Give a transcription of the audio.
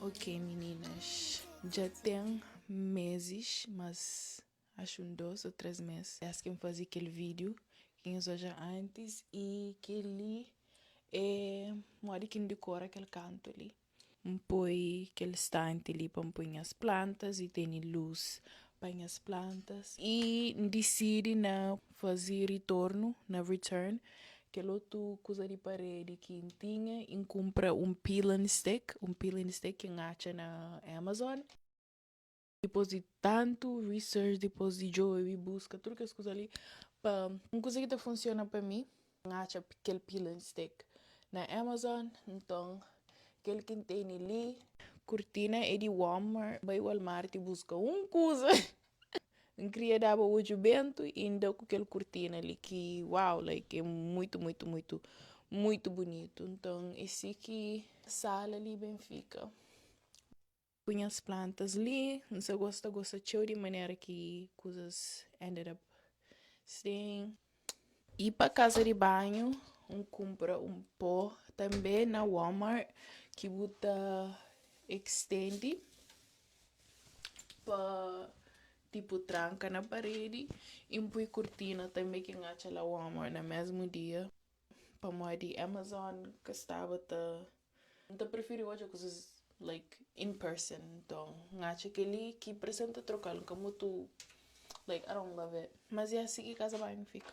Ok meninas, dja ten mezis mas acho un dos o tres mes desdi ki N fazi kel video ki nhos odja antis y kel-li é modi ki N dikora kel kantu li. N poi kel stanti li pa N poi nhas plantas y tene lus pa nhas plantas y N disidi na. faze ritornu na return kel otu kuza di paredi ki N tinha i N kunpra un peeling stick, un peeling stick ki N atxa na Amazon. Dipôs di tantu research, dipôs di djobe, buska tudu kes kuza li pa un kuza ki ta funsiona pa mi. N atxa kel pila and steak na Amazon nton kel ki n teni li. Kurtina é di Walmart. Bai Walmart y buska un kuza. N kria daba odju bentu y N da ku kel kurtina li ki wow like é muitu muitu muitu muitu bunitu nton é si ki sala li ben fika. Ku nhas plantas li N sa gosta gosta txeu di manera ki kuzas ended up Sten. I pa kasa di banhu N kunpra un po tanbe na walmart ki bu ta ekstendi pa tipu tranka na paredi i N pui kurtina tanbe ki N atxa la walmart na mesmu dia pamodi amazon ka staba ta N ta preferi odja kuzas like in person nton N atxa kel-li ki presen ta troka-l N ka mutu like I don't love it Mas ya si ki kaza banhu fika.